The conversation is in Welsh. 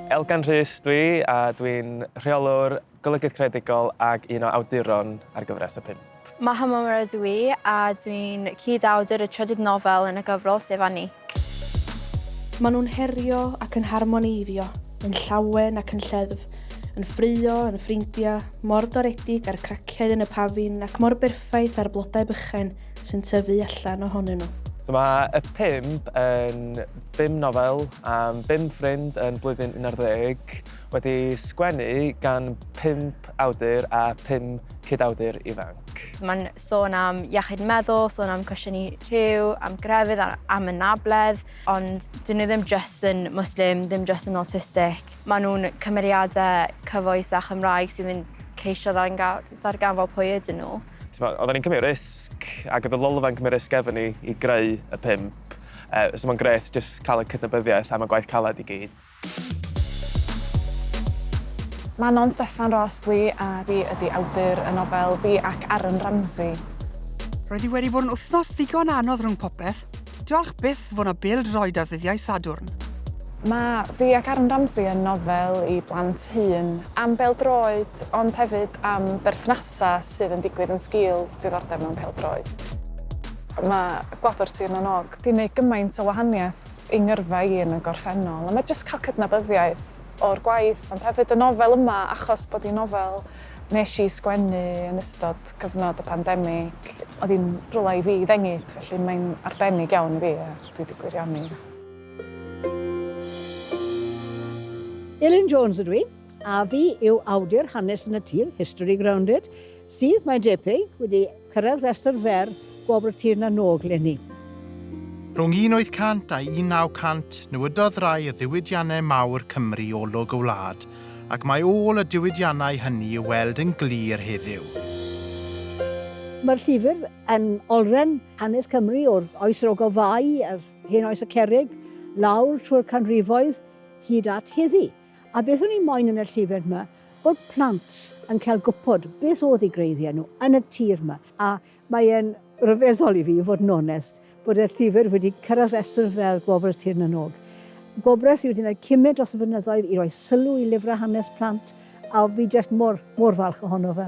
Elgan Rhys dwi a dwi'n Rheolwr Golygydd Creadigol ac un o awduron ar gyfres y pump. Maha Momorah ydw i a dwi'n cyd-awdur y trydydd nofel yn y gyfrol, sef Anik. Maen nhw'n herio ac yn harmoneiddio, yn llawen ac yn lleddf, yn ffraeo, yn ffrindiau, mor doredig â'r craciau yn y pafin ac mor berffaith â'r blodau bychain, sy'n tyfu allan ohonyn nhw. So mae y pump yn bum nofel am bum ffrind yn blwyddyn 11 wedi sgwennu gan pump awdur a pum cyd-awdur ifanc. Mae'n sôn am iechyd meddwl, sôn am cwestiynu rhyw, am grefydd, am anabledd, ond dyn nhw ddim jyst yn Muslim, ddim jyst yn autistic. Maen nhw'n cymeriadau cyfoes a Chymraeg sy'n mynd ceisio ddarganfod pwy ydyn nhw. T'mod, oedden ni'n cymryd risg, ac oedd y lolfa yn cymryd risg efo ni i greu y pump. Uh, so mae'n gret jyst cael y cydnabyddiaeth am y gwaith caled i gyd. Manon Steffan Ros dwi a fi ydy awdur y nofel Fi ac Aaron Ramsey. Roedd hi wedi bod yn wythnos ddigon anodd rhwng popeth. Diolch byth fo' 'na bêl-droed ar ddyddiau Sadwrn. Mae fi ac Aaron Ramsey yn nofel i blant hŷn, am bêl-droed ond hefyd am berthnasau sydd yn digwydd yn sgil diddordeb mewn pêl-droed. Mae Gwobr Sir na n-Og 'di neud gymaint o wahaniaeth i ngyrfa i yn y gorffennol a mae jyst cael cydnabyddiaeth o'r gwaith ond hefyd y nofel yma achos bod hi'n nofel Wnes i sgwennu yn ystod cyfnod y pandemig. Oedd hi'n rywle i fi ddengyd, felly mae'n arbennig iawn i fi a dwi wedi gwirioni. Elin Jones ydw i, a fi yw awdur Hanes yn y Tir, History Grounded, sydd, mae'n debyg, wedi Cyrraedd rhestr fer Gwobr y Tir na Nôg 'leni. Rhwng 1800 a 1900, nywydodd rai o ddiwydiannau mawr Cymru olwg y wlad, ac mae ôl y diwydiannau hynny i'w weld yn glir heddiw. Mae'r llyfr yn olrhain hanes Cymru o'r Oes yr Ogof Fai a'r Hen Oes y Cerrig, lawr trwy'r canrifoedd hyd at heddi. A beth o'n i moyn yn y llyfr 'ma, bod plant yn cael gwybod beth oedd eu gwreiddiau nhw yn y tir 'ma, a mae e'n ryfeddol i fi, i fod yn onest, bod y llyfr wedi cyrraedd rhestr fel Gwobr y Tir Nanog. Gwobrau sydd wedi gwneud cymryd dros y blynyddoedd i roi sylw i lyfrau hanes plant, a fi jyst mor, mor falch ohono fe.